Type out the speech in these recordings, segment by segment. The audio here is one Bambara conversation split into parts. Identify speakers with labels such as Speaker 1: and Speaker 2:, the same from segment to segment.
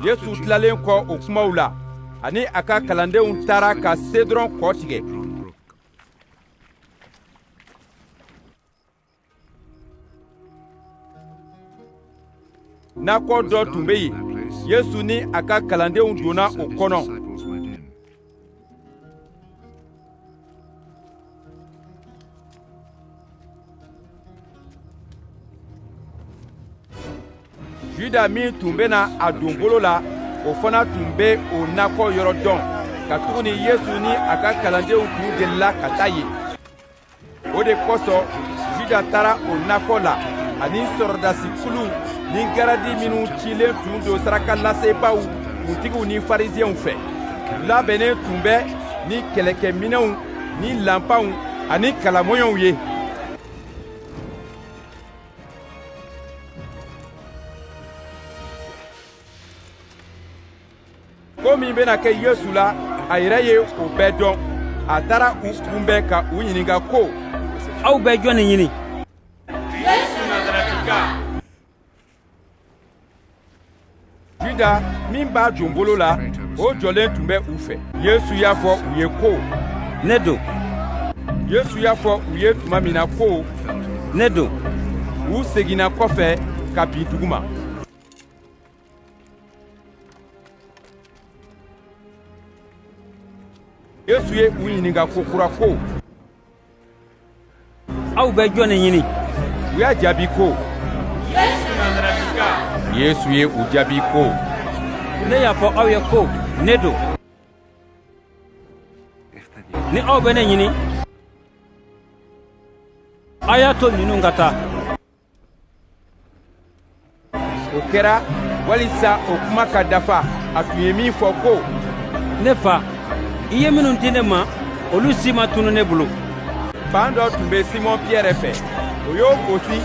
Speaker 1: yesu tilalen kɔ o kumaw la ani a ka kalandenw taara ka sedɔrɔn kɔ tigɛ nakɔ dɔ tun bɛ yen yesu ni a ka kalandenw donna o kɔnɔ juda min tun bɛna a don bolo la o fana tun bɛ o nakɔ yɔrɔ dɔn katuguni yesu ni a ka kalandenw tun delila ka taa yen o de kosɔn juda taara o nakɔ la ani sɔrɔdasi kulu ni garadi minnu cilen tun don saraka lasebaaw kuntigiw ni fariziyɛnw fɛ u labɛnnen tun bɛ ni kɛlɛkɛminɛnw ni lanpanw ani kalamɔɲɔw ye ko min bɛna kɛ yesu la a yɛrɛ ye o bɛɛ dɔn a taara u kunbɛn ka u ɲininka ko aw bɛ jɔn de ɲini yesu nazarɛtika juda min b'a don bolo la o jɔlen tun bɛ u fɛ yesu y'a fɔ u ye ko ne don yesu y'a fɔ u ye tuma min na ko ne don u seginna kɔfɛ ka bin duguma yesu ye u ɲininka ko kura ko aw bɛ jɔn de ɲini u y'a jaabi ko yesu nazarɛtika yesu ye u jaabi ko ne y'a fɔ aw ye ko ne don ni aw bɛ ne ɲini a y'a to ninnu ka taa o kɛra walisa o kuma ka dafa a tun ye min fɔ ko ne fa i ye minnu di ne ma olu si ma tunu ne bolo npan dɔ tun bɛ simɔn piyɛrɛ fɛ o y'o bɔsi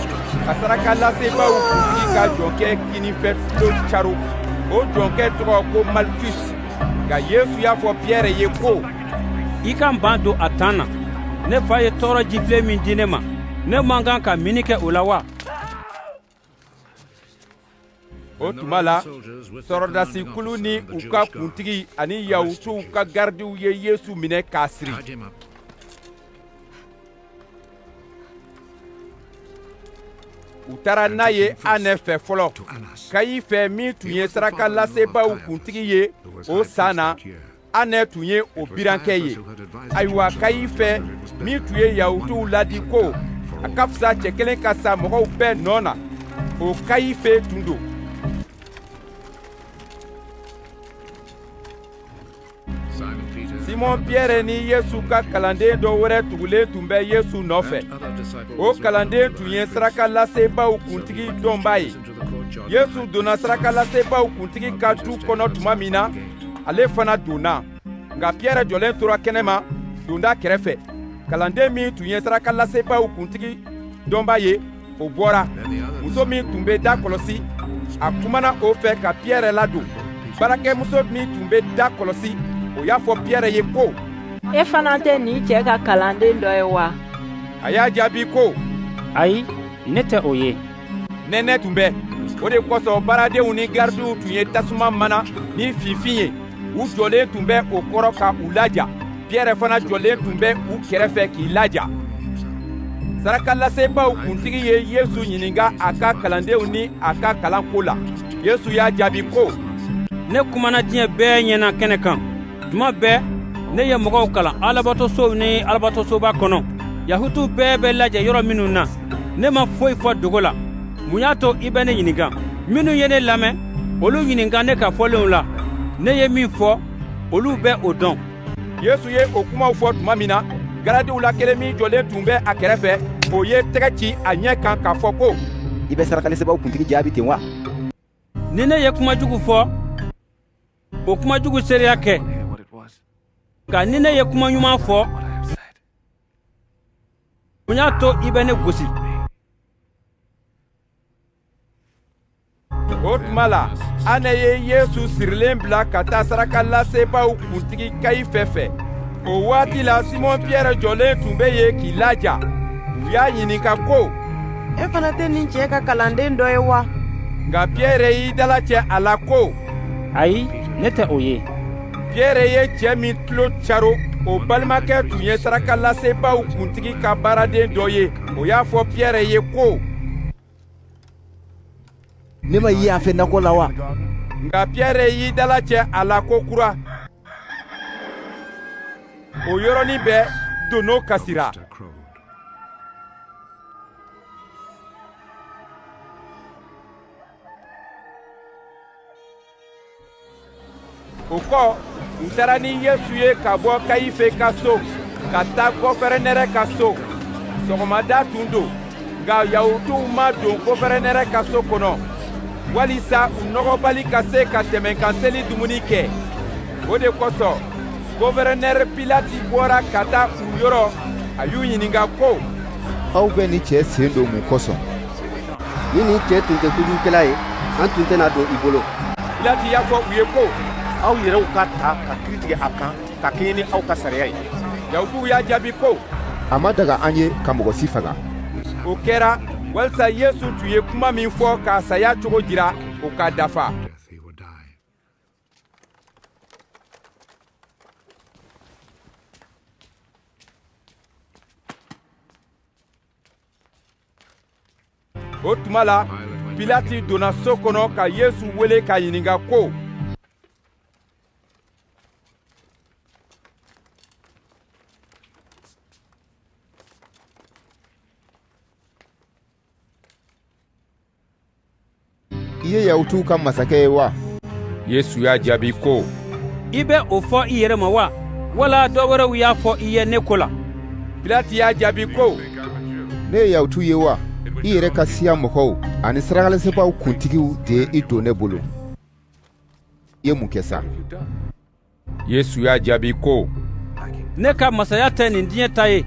Speaker 1: ka saraka lasebaaw kuntigi ka jɔnkɛ kininfɛ tulo caron o jɔnkɛ tɔgɔ ko malkus nka yesu y'a fɔ piyɛrɛ ye ko i ka npan don a tan na ne fa ye tɔɔrɔ jifilen min di ne ma ne man kan ka minni kɛ o la wa o tuma la sɔrɔdasi kulu ni u ka kuntigi ani yahutuw ka garadiw ye yesu minɛ k'a siri u taara n'a ye anɛ fɛ fɔlɔ kayifɛ min tun ye saraka lasebaaw kuntigi ye o san na anɛ tun ye o birankɛ ye ayiwa kayifɛ min tun ye yahutuw ladi ko a ka fisa cɛ kelen ka sa mɔgɔw bɛɛ nɔ na o kayifɛ tun don simɔn piyɛrɛ ni yesu ka kalanden dɔ wɛrɛ tugulen tun bɛ yesu nɔfɛ o kalanden tun ye sarakalasebaaw kuntigi dɔnbaa ye Yesu donna sarakalasebaaw kuntigi ka du kɔnɔ tuma min na ale fana donna nka Pierɛ jɔlen tora kɛnɛma donda kɛrɛfɛ kalanden min tun ye sarakalasebaaw kuntigi dɔnbaa ye o bɔra muso min tun bɛ da kɔlɔsi a kumana o fɛ ka Pierɛ ladon baarakɛmuso min tun bɛ da kɔlɔsi o y'a fɔ Pierɛ ye ko e fana tɛ nin cɛ ka kalanden dɔ ye wa a y'a jaabi ko ayi ne tɛ o ye nɛnɛ tun bɛ o de kosɔn baaradenw ni garidiw tun ye tasuma mana ni finfin ye u jɔlen tun bɛ o kɔrɔ ka u laja piyɛrɛ fana jɔlen tun bɛ u kɛrɛfɛ k'i laja sarakalasebaaw kuntigi ye yesu ɲininka a ka kalandenw ni a ka kalanko la yesu y'a jaabi ko ne kumana diɲɛ bɛɛ ɲɛna kɛnɛ kan tuma bɛɛ ne ye mɔgɔw kalan alabatosow ni alabatosoba kɔnɔ yahutuw bɛɛ bɛ lajɛ yɔrɔ minnu na ne ma foyi fɔ dogo la mun y'a to i bɛ ne ɲininka minnu ye ne lamɛn olu ɲininka ne ka fɔlenw la ne ye min fɔ olu bɛ o dɔn yesu ye o kumaw fɔ tuma min na garadiw la kelen min jɔlen tun bɛ a kɛrɛfɛ o ye tɛgɛ ci a ɲɛ kan k'a fɔ ko i bɛ sarakalasebaaw kuntigi jaabi ten wa ni ne ye kuma jugu fɔ o kuma jugu seereya kɛ nka ni ne ye kuma ɲuman fɔ mun y'a to i bɛ ne gosi o tuma la anɛ ye yesu sirilen bila ka taa sarakalasebaaw kuntigi kayifɛ fɛ o waati la simɔn piyɛrɛ jɔlen tun bɛ yen k'i laja u y'a ɲininka ko e fana tɛ nin cɛ ka kalanden dɔ ye wa nka piyɛrɛ y'i dalacɛ a la ko ayi ne tɛ o ye piɛrɛ ye cɛ min tulo caro o balimakɛ tun ye sarakalasebaaw kuntigi ka baaraden dɔ ye o y'a fɔ piɛrɛ ye ko ne ma i ye a fɛ nakɔ la wa nka piɛrɛ y'i dalacɛ a la ko kura o yɔrɔnin bɛɛ dono kasira o kɔ u taara ni yesu ye ka bɔ kayife ka so ka taa gɔfɛrɛnɛrɛ ka so sɔgɔmada tun don nka yahutuw ma don gɔfɛrɛnɛrɛ ka so kɔnɔ walisa u nɔgɔbali ka se ka tɛmɛnkanseli dumuni kɛ o de kosɔn gɔfɛrɛnɛrɛ pilati bɔra ka taa u yɔrɔ a y'u ɲininka ko aw bɛ nin cɛ sen don mun kosɔn ni nin cɛ tun tɛ kojugukɛla ye an tun tɛna a don i bolo pilati y'a fɔ u ye ko aw yɛrɛw k'a ta ka kiri tigɛ a kan ka kɛɲɛ ni aw ka sariya ye yahutuw y'a jaabi ko a ma daga an ye ka mɔgɔ si faga o kɛra walisa yesu tun ye kuma min fɔ k'a saya cogo jira o ka dafa o tuma la pilati donna so kɔnɔ ka yesu wele k'a ɲininka ko i ye yahutuw ka masakɛ ye wa yesu y'a jaabi ko i bɛ o fɔ i yɛrɛ ma wa wala dɔ wɛrɛw y'a fɔ i ye ne ko la pilati y'a jaabi ko ne ye yahutu ye wa i yɛrɛ ka siya mɔgɔw ani sarakalasebaaw kuntigiw de ye i don ne bolo i ye mun kɛ sa yesu y'a jaabi ko ne ka masaya tɛ nin diɲɛ ta ye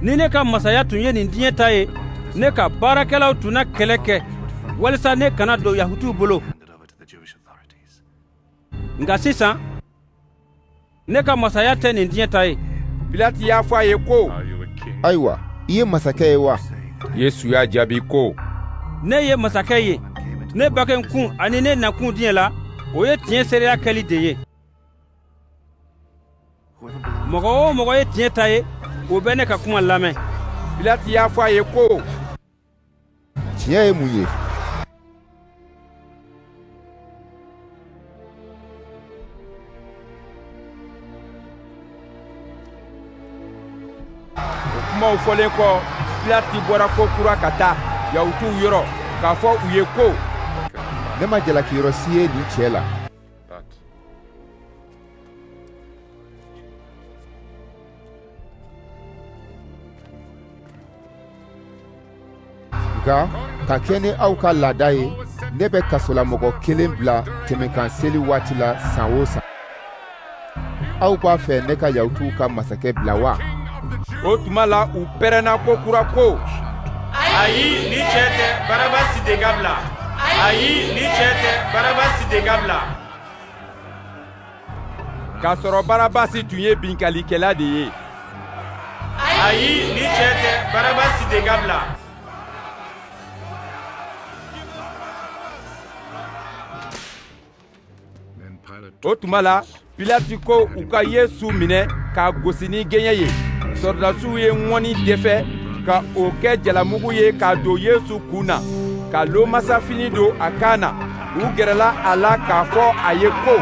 Speaker 1: ni ne ka masaya tun ye nin diɲɛ ta ye ne ka baarakɛlaw tun na kɛlɛ kɛ walisa ne kana don yahutuw bolo nka sisan ne ka masaya tɛ nin diɲɛ ta ye pilati y'a fɔ a ye ko ayiwa i ye masakɛ ye wa yesu y'a jaabi ko ne ye masakɛ ye ne bangekun ani ne nakun diɲɛ la o ye tiɲɛ seereya kɛli de ye mɔgɔ o mɔgɔ ye tiɲɛ ta ye o bɛ ne ka kuma lamɛn pilati y'a fɔ a ye ko tiɲɛ ye mun ye o kumaw fɔlen kɔ pilati bɔra ko kura ka taa yahutuw yɔrɔ k'a fɔ u ye ko ne ma jalaki yɔrɔ si ye nin cɛ la nka ka kɛ ni aw ka laada ye ne bɛ kasolamɔgɔ kelen bila tɛmɛkan seli waati la san o san aw b'a fɛ ne ka yahutuw ka masakɛ bila wa o tuma la u pɛrɛnna ko kura ko ayi nin cɛ tɛ barabasi de ka bila ayi nin cɛ tɛ barabasi de ka bila k'a sɔrɔ barabasi tun ye binkalikɛla de ye ayi nin cɛ tɛ barabasi de ka bila o tuma la pilati ko u ka yesu minɛ k'a gosi ni gɛɲɛ ye sɔrɔdasiw ye ŋɔni dɛfɛ ka o kɛ jalamugu ye k'a don yesu kun na ka lomasafini don a kan na u gɛrɛla a la k'a fɔ a ye ko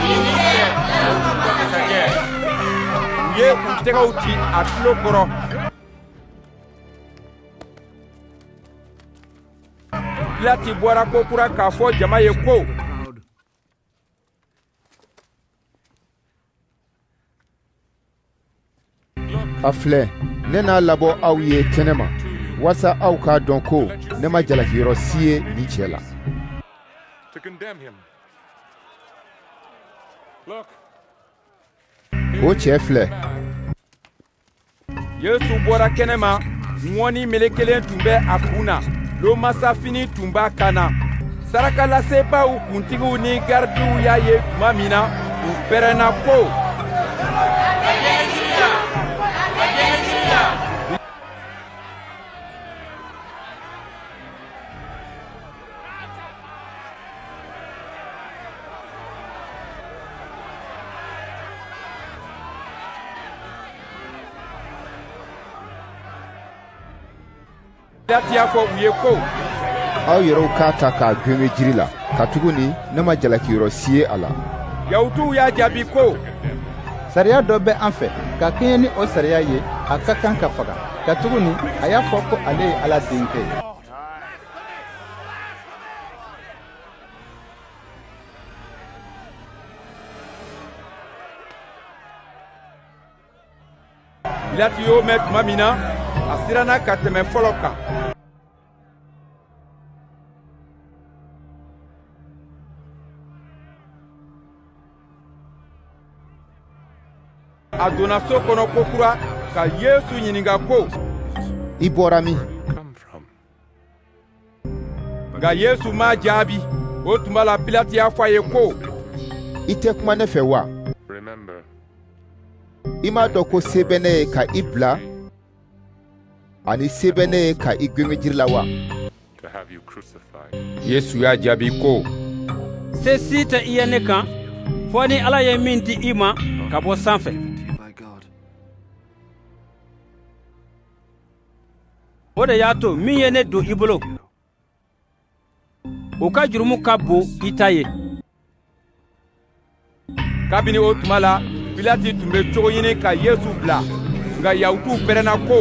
Speaker 1: i ni ce masakɛ u ye u tɛgɛw ci a tulo kɔrɔ pilati bɔra ko kura k'a fɔ jama ye ko a filɛ ne n'a labɔ aw ye kɛnɛ ma walasa aw k'a dɔn ko ne ma jalakiyɔrɔ si ye nin cɛ la o cɛ filɛ yesu bɔra kɛnɛ ma ŋɔni melekelen tun bɛ a kun na lomasafini tun b'a kan na sarakalasebaaw kuntigiw ni garidiw y'a ye tuma min na u pɛrɛnna ko lati y'a fɔ u ye ko aw yɛrɛw k'a ta k'a gengen jiri la katuguni ne ma jalakiyɔrɔ si ye a la yahutuw y'a jaabi ko sariya dɔ bɛ an fɛ ka kɛɲɛ ni o sariya ye a ka kan ka faga katuguni a y'a fɔ ko ale ye ala denkɛ ye pilati y'o mɛn tuma min na a siranna ka tɛmɛ fɔlɔ kan a donna so kɔnɔ ko kura ka yesu ɲininka ko i bɔra min nka yesu m'a jaabi o tuma la pilati y'a fɔ a ye ko i tɛ kuma ne fɛ wa i m'a dɔn ko se bɛ ne ye ka i bila ani se bɛ ne ye ka i gengen jiri la wa yesu y'a jaabi ko se si tɛ i ye ne kan fɔ ni ala ye min di i ma ka bɔ sanfɛ o de y'a to min ye ne don i bolo o ka jurumu ka bon i ta ye kabini o tuma la pilati tun bɛ cogo ɲini ka yesu bila nka yahutuw pɛrɛnna ko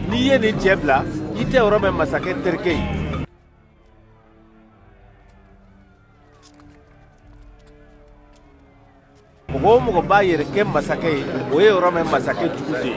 Speaker 1: n'i ye nin cɛ bila i tɛ rome masakɛ terikɛ ye mɔgɔ o mɔgɔ b'a yɛrɛ kɛ masakɛ ye o ye rome masakɛ jugu de ye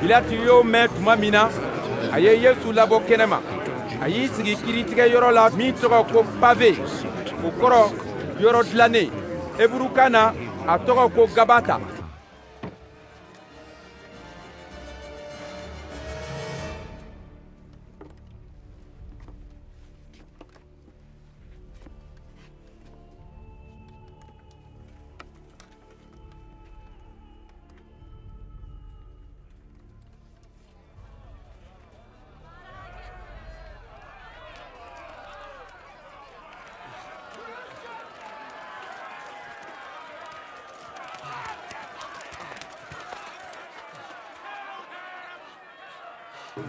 Speaker 1: Pilati y'o mɛn tuma min na a ye Yesu labɔ kɛnɛma a y'i sigi kiritigɛyɔrɔ la min tɔgɔ ko pave o kɔrɔ yɔrɔ dilannen eburukan na a tɔgɔ ko gabata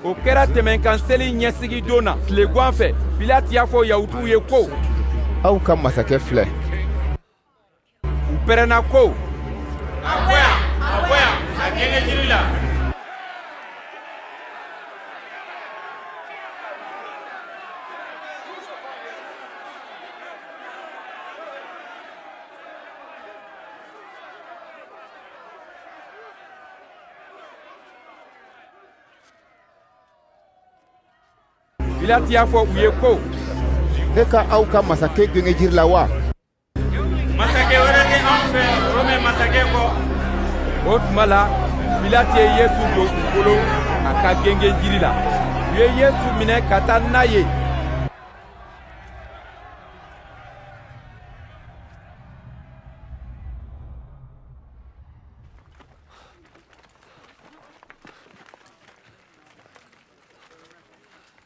Speaker 1: o kɛra tɛmɛnkan seli ɲɛsigidon na tilegan fɛ pilati y'a fɔ yahutuw ye ko aw ka masakɛ filɛ u pɛrɛnna ko a bɔ yan a bɔ yan a gengen jiri la pilati y'a fɔ u ye ko ne ka aw ka masakɛ gengen jiri la wa Masakɛ wɛrɛ tɛ anw fɛ Rome masakɛ kɔ. O tuma la, Pilate ye Yesu don u bolo a ka gengen jiri la. U ye Yesu minɛ ka taa n'a ye.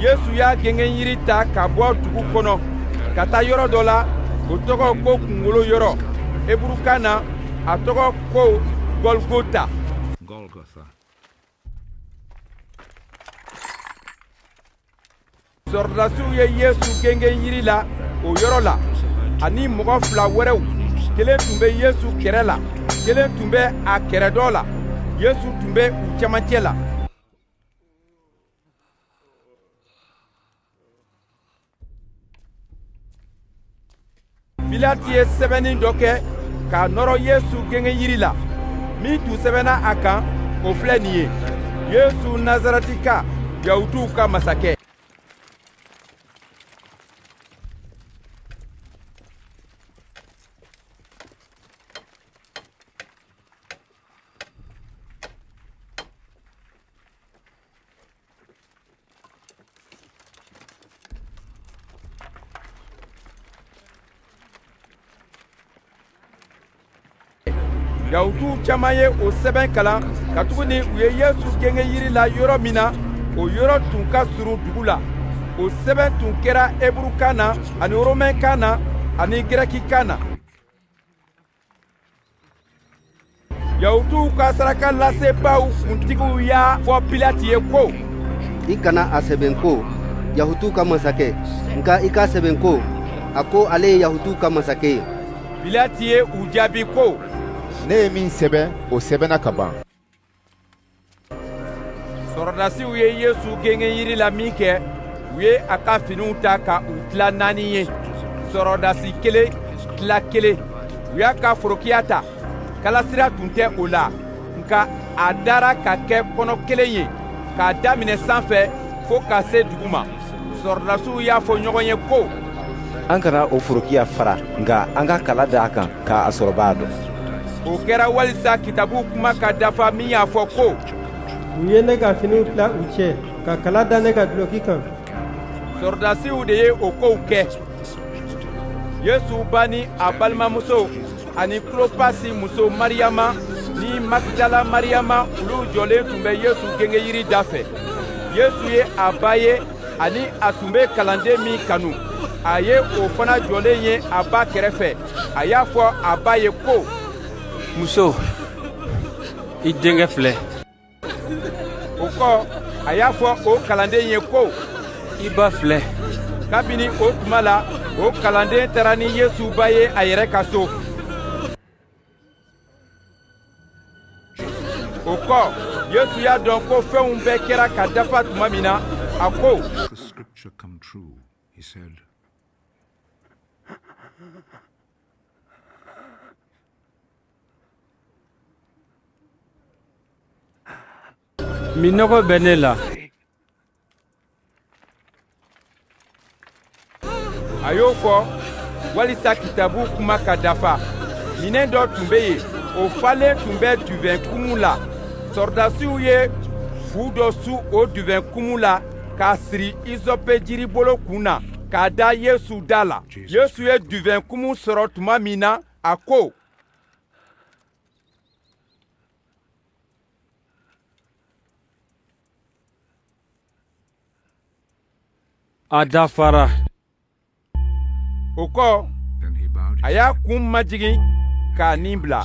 Speaker 1: yesu y'a gengen yiri ta ka bɔ dugu kɔnɔ ka taa yɔrɔ dɔ la o tɔgɔ ko kungolo yɔrɔ eburukan na a tɔgɔ ko gɔlgota sɔrɔdasiw ye yesu gengen yiri la o yɔrɔ la ani mɔgɔ fila wɛrɛw kelen tun bɛ yesu kɛrɛ la kelen tun bɛ a kɛrɛ dɔ la yesu tun bɛ u cɛmancɛ la pilati ye sɛbɛnni dɔ kɛ k'a nɔrɔ yesu gengenyiri la min tun sɛbɛnna a kan o filɛ nin ye yesu nazarɛtika yahutuw ka masakɛ Yahutuw caman ye o sɛbɛn kalan katuguni u ye Yesu gengen yiri la yɔrɔ min na, o yɔrɔ tun ka surun dugu la. O sɛbɛn tun kɛra Heburukan na ani Romɛnkan na ani Gɛrɛkikan na. yahutuw ka sarakalasebaaw kuntigiw y'a fɔ pilati ye ko i kana a sɛbɛn ko yahutuw ka masakɛ nka i k'a sɛbɛn ko a ko ale ye yahutuw ka masakɛ ye pilati ye u jaabi ko ne ye min sɛbɛn o sɛbɛnna ka ban sɔrɔdasiw ye yesu gengen yiri la minkɛ u ye a ka finiw ta ka u tila naani ye sɔrɔdasi kelen tila kelen u y'a ka forokiya ta kalasira tun tɛ o la nka a dara ka kɛ kɔnɔ kelen ye k'a daminɛ san fɛ fo ka se dugu ma sɔrɔdasiw y'a fɔ ɲɔgɔn ye ko an kana o forokiya fara nka an ka kala da a kan k'a sɔrɔbaa dɔn o kɛra walisa kitabu kuma ka dafa min y'a fɔ ko u ye ne ka finiw tila u cɛ ka kala da ne ka duloki kan sɔrɔdasiw de ye o kow kɛ yesu ba ni a balimamuso ani kulopasi muso mariyama ni magidala mariyama olu jɔlen tun bɛ yesu gengenyiri dafɛ yesu ye a ba ye ani a tun bɛ kalanden min kanu a ye o fana jɔlen ye a ba kɛrɛfɛ a y'a fɔ a ba ye ko muso i denkɛ filɛ o kɔ a y'a fɔ o kalanden ye ko i ba filɛ kabini o tuma la o kalanden taara ni yesu ba ye a yɛrɛ ka so o kɔ yesu y'a dɔn ko fɛnw bɛɛ kɛra ka dafa tuma min na a ko Minnɔgɔ bɛ ne la a y'o fɔ walisa kitabu kuma ka dafa minɛn dɔ tun bɛ yen o falen tun bɛ divɛn kumu la sɔrɔdasiw ye fu dɔ su o divɛn kumu la k'a siri izɔpe jiribolo kun na k'a da yesu da la Yesu ye divɛn kumu sɔrɔ tuma min na a ko a dafara o kɔ a y'a kun majigin k'a nin bila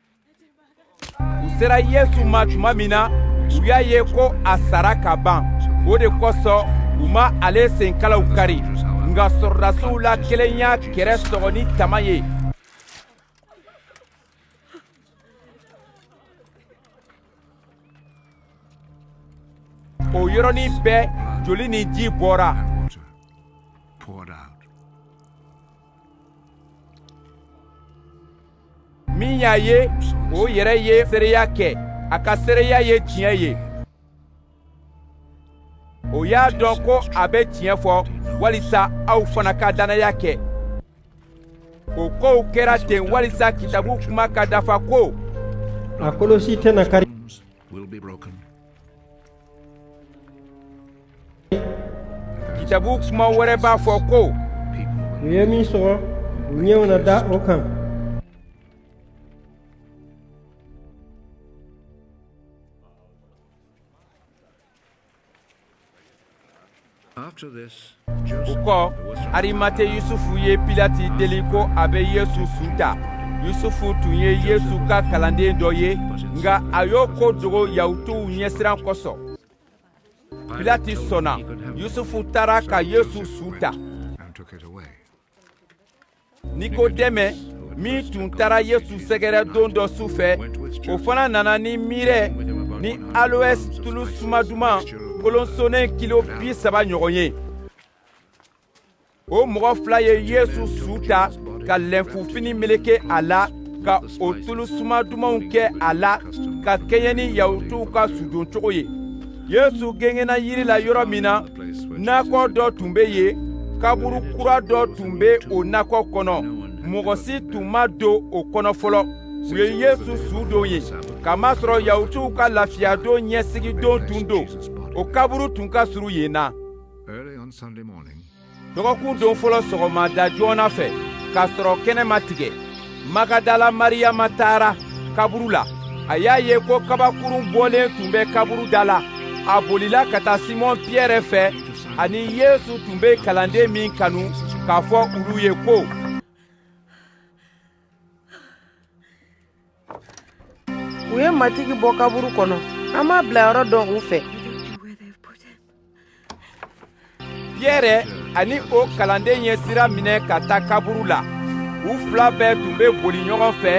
Speaker 1: u sera yesu ma tuma min na u y'a ye ko a sara ka ban o de kosɔn u ma ale senkalaw kari nka sɔrɔdasiw la kelen y'a kɛrɛ sɔgɔ ni tama ye o yɔrɔnin bɛɛ joli ni ji bɔra min y'a ye o yɛrɛ ye seereya kɛ a ka seereya ye tiɲɛ ye o y'a dɔn ko a bɛ tiɲɛ fɔ walisa aw fana ka dannaya kɛ o kow kɛra ten walisa kitabu kuma ka dafa ko a kolo si tɛna kari kitabu kuma wɛrɛ b'a fɔ ko u ye min sɔgɔ u ɲɛw na da o kan o kɔ arimate yusufu ye pilati deli ko a bɛ yesu su ta yusufu tun ye yesu ka kalanden dɔ ye nka a y'o ko dogo yahutuw ɲɛsiran kosɔn pilati sɔnna yusufu taara ka yesu su ta nikodɛmɛ min tun taara yesu sɛgɛrɛ don dɔ su fɛ o fana nana ni mirɛ ni aloes tulu suma duman kolonsonnen kilo bi saba ɲɔgɔn ye o mɔgɔ fila ye yesu su ta ka lɛnfufini meleke a la ka o tulu suma dumanw kɛ a la ka kɛɲɛ ni yahutuw ka sudoncogo ye yesu gengenna yiri la yɔrɔ min na nakɔ dɔ tun bɛ yen kaburu kura dɔ tun bɛ o nakɔ kɔnɔ mɔgɔ si tun ma don o kɔnɔ fɔlɔ u ye yesu su don yen k'a masɔrɔ yahutuw ka lafiyadon ɲɛsigidon tun don o kaburu tun ka surun yen na dɔgɔkun don fɔlɔ sɔgɔma da joona fɛ k'a sɔrɔ kɛnɛ ma tigɛ magadala mariyama taara kaburu la a y'a ye ko kabakurun bɔlen tun bɛ kaburu da la a bolila ka taa simɔn piyɛrɛ fɛ ani yesu tun bɛ kalanden min kanu k'a fɔ olu ye ko u ye matigi bɔ kaburu kɔnɔ an m'a bilayɔrɔ dɔn u fɛ piyɛrɛ ani o kalanden ye sira minɛ ka taa kaburu la u fila bɛɛ tun bɛ boli ɲɔgɔn fɛ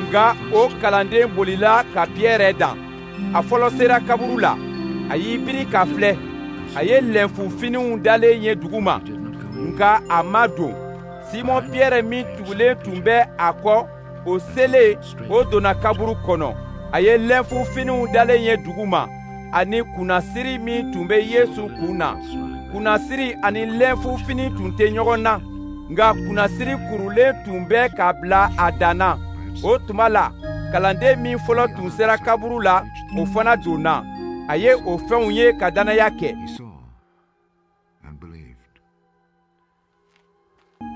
Speaker 1: nka o kalanden bolila ka piyɛrɛ dan a fɔlɔ sera kaburu la a y'i biri ka filɛ a ye lɛnfu finiw dalen ye dugu ma nka a ma don simɔn piyɛrɛ min tugulen tun bɛ a kɔ o selen o donna kaburu kɔnɔ a ye lɛnfu finiw dalen ye dugu ma ani kunnasiri min tun bɛ yesu kun na kunnasiri ani lɛnfu fini tun tɛ ɲɔgɔn na nka kunnasiri kurulen tun bɛ ka bila a dan na o tuma la kalanden min fɔlɔ tun sera kaburu la o fana donna a ye o fɛnw ye ka dannaya kɛ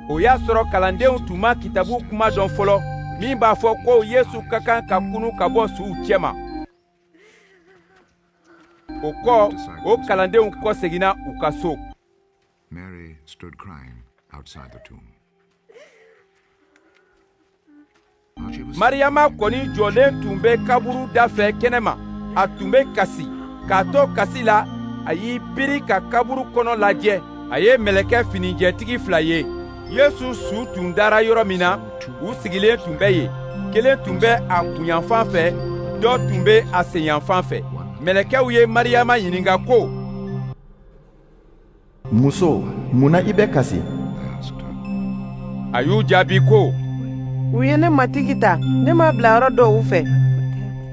Speaker 1: o y'a sɔrɔ kalandenw tun ma kitabu kuma dɔn fɔlɔ min b'a fɔ ko yesu ka kan ka kunu ka bɔ suw cɛma o kɔ o kalandenw kɔseginna u ka so Mary stood crying outside the tomb. mariyama kɔni jɔlen tun bɛ kaburu da fɛ kɛnɛ ma a tun bɛ kasi k'a to kasi la a y'i biri ka kaburu kɔnɔ lajɛ a ye mɛlɛkɛ finijɛtigi fila ye yesu su tun dara yɔrɔ min na u sigilen tun bɛ yen kelen tun bɛ a kunyanfan fɛ dɔ tun bɛ a senyanfan fɛ mɛlɛkɛw ye mariyama ɲininka ko muso mun na i bɛ kasi a y'u jaabi ko u ye ne matigi ta ne m'a bilayɔrɔ dɔn u fɛ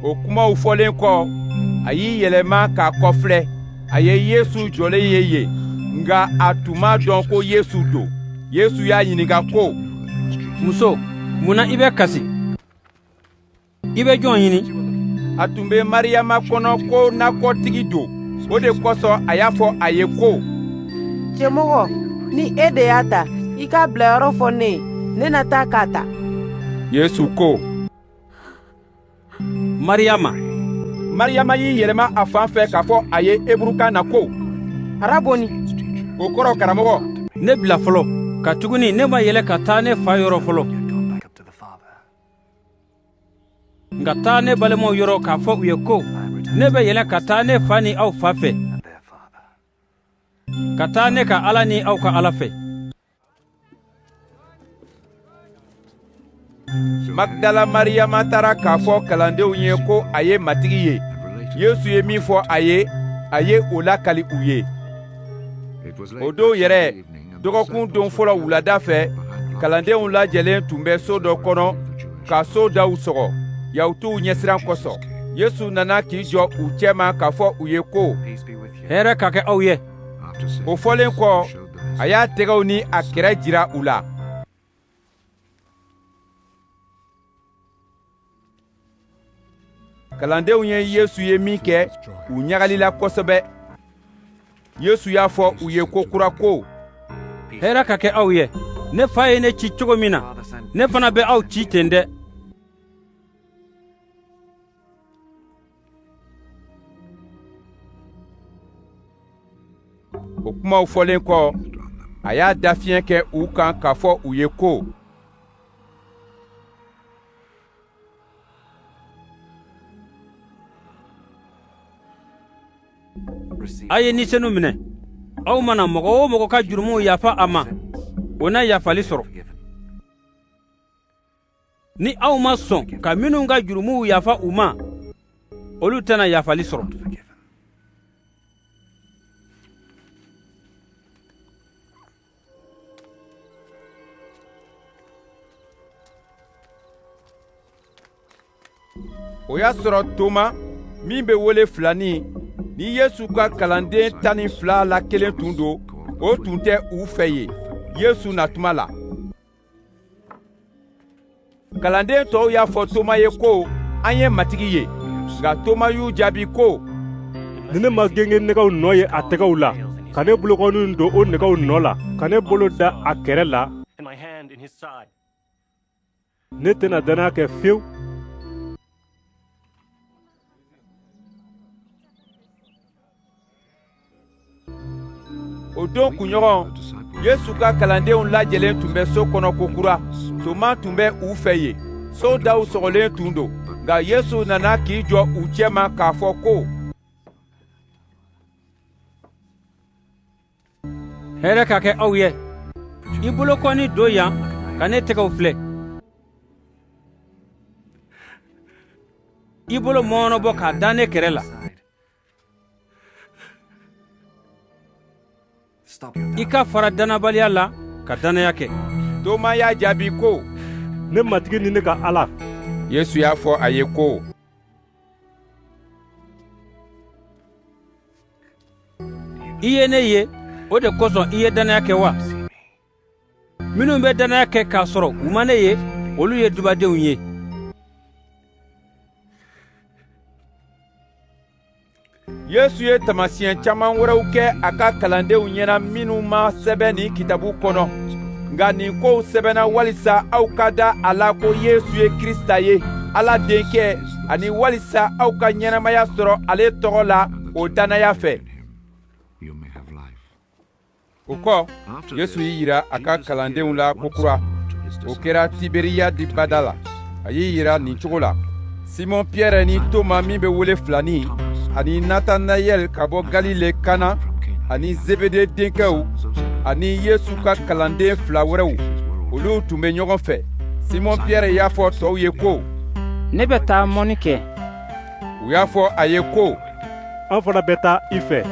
Speaker 1: o kumaw fɔlen kɔ a y'i yɛlɛma k'a kɔfilɛ a ye yesu jɔlen ye yen nka a tun m'a dɔn ko yesu don yesu y'a ɲininka ko muso mun na i bɛ kasi i bɛ jɔn ɲini a tun bɛ mariyama kɔnɔ ko nakɔtigi don o de kosɔn a y'a fɔ a ye ko cɛmɔgɔ ni e de y'a ta i k'a bilayɔrɔ fɔ ne ye ne na taa k'a ta yesu ko mariyama mariyama y'i yɛlɛma a fan fɛ k'a fɔ a ye eburukan na ko araboni o kɔrɔ karamɔgɔ ne bila fɔlɔ katuguni ne ma yɛlɛ ka taa ne fa yɔrɔ fɔlɔ nka taa ne balimaw yɔrɔ k'a fɔ u ye ko ne bɛ yɛlɛn ka taa ne fa ni aw fa fɛ ka taa ne ka ala ni aw ka ala fɛ magdala mariyama taara k'a fɔ kalandenw ye ko a ye matigi ye yesu ye min fɔ a ye a ye o lakali u ye o don yɛrɛ dɔgɔkun don fɔlɔ wulada fɛ kalandenw lajɛlen tun bɛ so dɔ kɔnɔ ka so daw sɔgɔ yahutuw ɲɛsiran kosɔn yesu nana k'i jɔ u cɛma k'a fɔ u ye ko hɛrɛ ka kɛ aw ye o fɔlen kɔ a y'a tɛgɛw ni a kɛrɛ jira u la kalandenw ye yesu ye minkɛ u ɲagalila kosɛbɛ yesu y'a fɔ u ye kokura ko hɛrɛ ka kɛ aw ye ne fa ye ne ci cogo min na ne fana bɛ aw ci ten dɛ o kumaw fɔlen kɔ a y'a dafiɲɛ kɛ u kan k'a fɔ u ye ko a ye ni senu minɛ aw mana mɔgɔ o mɔgɔ ka jurumuw yafa a ma o na yafali sɔrɔ ni aw ma sɔn ka minnu ka jurumuw yafa u ma olu tɛna yafali sɔrɔ o y'a sɔrɔ toma min bɛ wele filani ni yesu ka kalanden tan ni fila la kelen tun don o tun tɛ u fɛ yen yesu natuma la kalanden tɔw y'a fɔ toma ye ko an ye matigi ye nka toma y'u jaabi ko ni ne ma gengen nɛgɛw nɔ ye a tɛgɛw la ka ne bolokɔninw don o nɛgɛw nɔ la ka ne bolo da a kɛrɛ la ne tɛna dannaya kɛ fiyewu o don kunɲɔgɔn yesu ka kalandenw lajɛlen tun bɛ so kɔnɔ kokura toma tun bɛ u fɛ yen so daw sɔgɔlen tun don nka yesu nana k'i jɔ u cɛma k'a fɔ ko hɛrɛ ka kɛ aw ye i bolokɔni don yan ka ne tɛgɛw filɛ i bolo mɔɔnɔbɔ k'a da ne kɛrɛ la i ka fara dannabaliya la ka dannaya kɛ toma y'a jaabi ko ne matigi ni ne ka ala yesu y'a fɔ a ye ko i ye ne ye o de kosɔn i ye dannaya kɛ wa minnu bɛ dannaya kɛ k'a sɔrɔ u ma ne ye olu ye dubadenw ye yesu ye taamasiyɛn caman wɛrɛw kɛ a ka kalandenw ɲɛna minnu ma sɛbɛn nin kitabu kɔnɔ nka nin kow sɛbɛnna walisa aw ka da a la ko yesu ye krisita ye ala denkɛ ani walisa aw ka ɲɛnamaya sɔrɔ ale tɔgɔ la o dannaya fɛ o kɔ yesu y'i jira a ka kalandenw la kokura o kɛra tiberiyadi bada la a y'i jira nin cogo la simɔn piyɛrɛ ni toma min bɛ wele filani ani natanayɛl ka bɔ galile kana ani zebede denkɛw ani yesu ka kalanden fila wɛrɛw olu tun bɛ ɲɔgɔn fɛ simɔn piyɛrɛ y'a fɔ tɔw ye ko ne bɛ taa mɔni kɛ u y'a fɔ a ye ko an fana bɛ taa i fɛ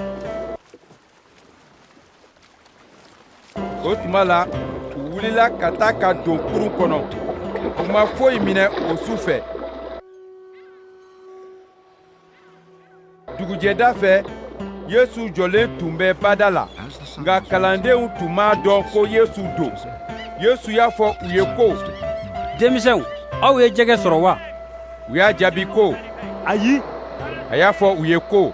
Speaker 1: o tuma la u wulila ka taa ka don kurun kɔnɔ u ma foyi minɛ o su fɛ dugujɛda fɛ yesu jɔlen tun bɛ bada la nka kalandenw tun m'a dɔn ko yesu don yesu y'a fɔ u ye ko denmisɛnw aw ye jɛgɛ sɔrɔ wa u y'a jaabi ko ayi a y'a fɔ u ye ko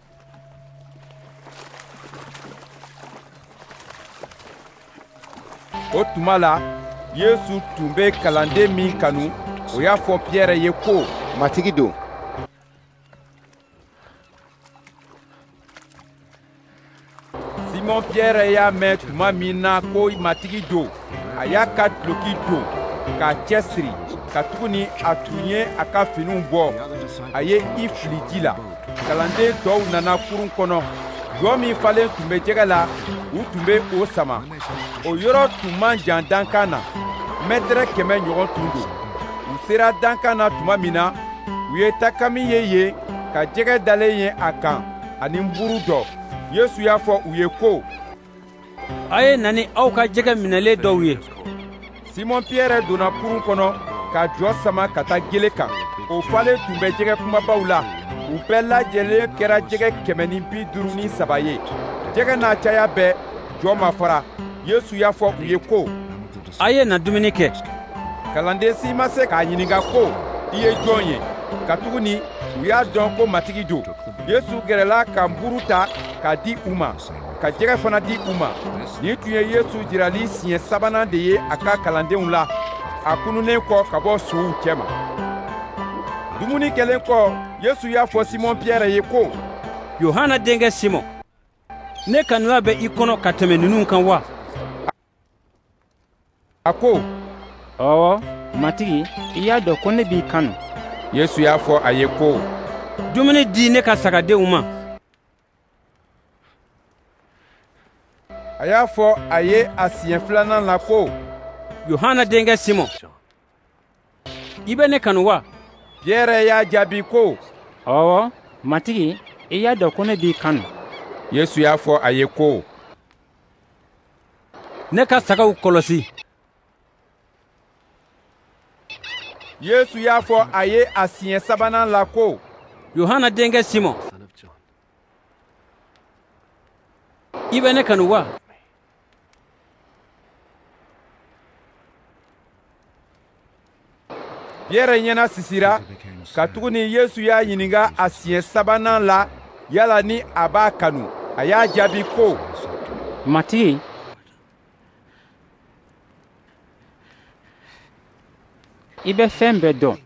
Speaker 1: o tuma la yesu tun bɛ kalanden min kanu o y'a fɔ piyɛrɛ ye ko matigi don simɔn piyɛrɛ y'a mɛn tuma min na ko matigi don a y'a ka duloki don k'a cɛsiri katuguni a tun ye a ka finiw bɔ a ye i fili ji la kalanden tɔw nana kurun kɔnɔ jɔ min falen tun bɛ jɛgɛ la u tun bɛ o sama o yɔrɔ tun man jan dankan na mɛtɛrɛ kɛmɛ ɲɔgɔn tun don u sera dankan na tuma min na u ye takami ye yen ka jɛgɛ dalen ye a kan ani nburu dɔ yesu y'a fɔ u ye ko a ye na ni aw ka jɛgɛ minɛlen dɔw ye simɔn piyɛrɛ donna kurun kɔnɔ ka jɔ sama ka taa gele kan o falen tun bɛ jɛgɛ kumabaw la u bɛɛ lajɛlen kɛra jɛgɛ kɛmɛ ni bi duuru ni saba ye jɛgɛ n'a caya bɛɛ jɔ ma fara yesu y'a fɔ u ye ko a ye na dumuni kɛ kalanden si ma se k'a ɲininka ko i ye jɔn ye katuguni u y'a dɔn ko matigi don yesu gɛrɛla ka nburu ta k'a di u ma ka jɛgɛ fana di u ma nin tun ye yesu jirali siɲɛ sabanan de ye a ka kalandenw la a kununnen kɔ ka bɔ suw cɛma dumuni kɛlen kɔ yesu y'a fɔ simɔn piyɛrɛ ye ko yohana denkɛ simɔn ne kanuya bɛ i kɔnɔ ka tɛmɛ ninnu kan wa a ko ɔwɔ matigi i y'a dɔn ko ne b'i kanu yesu y'a fɔ a ye ko dumuni di ne ka sagadenw ma a y'a fɔ a ye a siɲɛ filanan na ko yohana denkɛ simɔn i bɛ ne kanu wa piyɛrɛ y'a jaabi ko ɔwɔ matigi i y'a dɔn ko ne b'i kanu yesu y'a fɔ a ye ko ne ka sagaw kɔlɔsi yesu y'a fɔ a ye a siɲɛ sabanan la ko yohana denkɛ simɔn i bɛ ne kanu wa piyɛrɛ ɲɛnasisira katuguni yesu y'a ɲininka a siɲɛ sabanan la yala ni a b'a kanu a y'a jaabi ko matigi i bɛ fɛn bɛɛ dɔn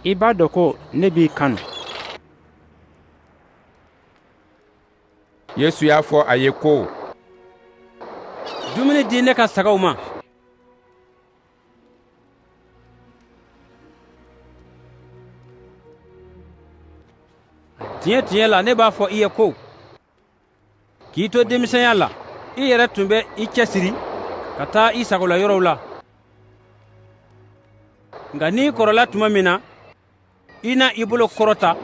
Speaker 1: i b'a dɔn ko ne b'i kanu yesu y'a fɔ a ye ko dumuni di ne ka sagaw ma tiɲɛ tiɲɛ la ne b'a fɔ i ye ko k'i to denmisɛnya la i yɛrɛ tun bɛ i cɛsiri ka taa i sagola yɔrɔw la nka n'i kɔrɔla tuma min na i na i bolo kɔrɔta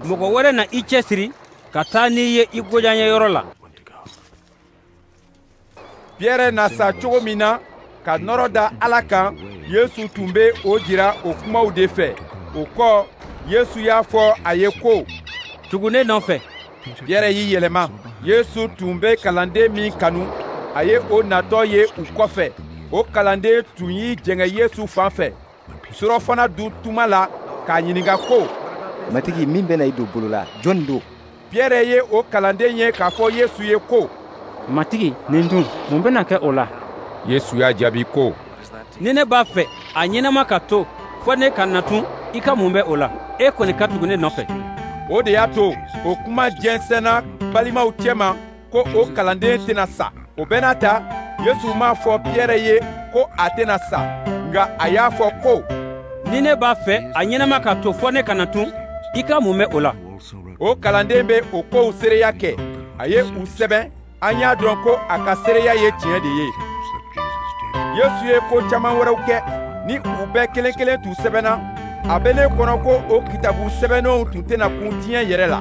Speaker 1: mɔgɔ wɛrɛ na i cɛsiri ka taa n'i ye i goyanyeyɔrɔ la piyɛrɛ na sa cogo min na ka nɔrɔ da ala kan yesu tun bɛ o jira o kumaw de fɛ o kɔ yesu y'a fɔ a ye ko tugu ne nɔfɛ piyɛrɛ y'i yɛlɛma yesu tun bɛ kalanden min kanu a ye o natɔ ye u kɔfɛ o kalanden tun y'i jɛngɛ yesu fan fɛ surɔfana dun tuma la k'a ɲininka ko matigi min bɛna i don bolo la jɔnni don piyɛrɛ ye o kalanden ye k'a fɔ yesu ye ko matigi nin dun mun bɛna kɛ o la yesu y'a jaabi ko ni ne b'a fɛ a ɲɛnama ka to fɔ ne ka na tun i ka mun bɛ o la e kɔni ka tugu ne nɔfɛ o de y'a to o kuma jɛnsɛnna balimaw cɛma ko o kalanden tɛna sa o bɛɛ n'a ta yesu m'a fɔ piyɛrɛ ye ko a tɛna sa nka a y'a fɔ ko ni ne b'a fɛ a ɲɛnama ka to fɔ ne ka na tun i ka mun bɛ o la o kalanden bɛ o kow seereya kɛ a ye u sɛbɛn an y'a dɔn ko a ka seereya ye tiɲɛ de ye yesu ye ko caman wɛrɛw kɛ ni u bɛɛ kelen kelen tun sɛbɛnna a bɛ ne kɔnɔ ko o kitabu sɛbɛnnenw tun tɛna kun diɲɛ yɛrɛ la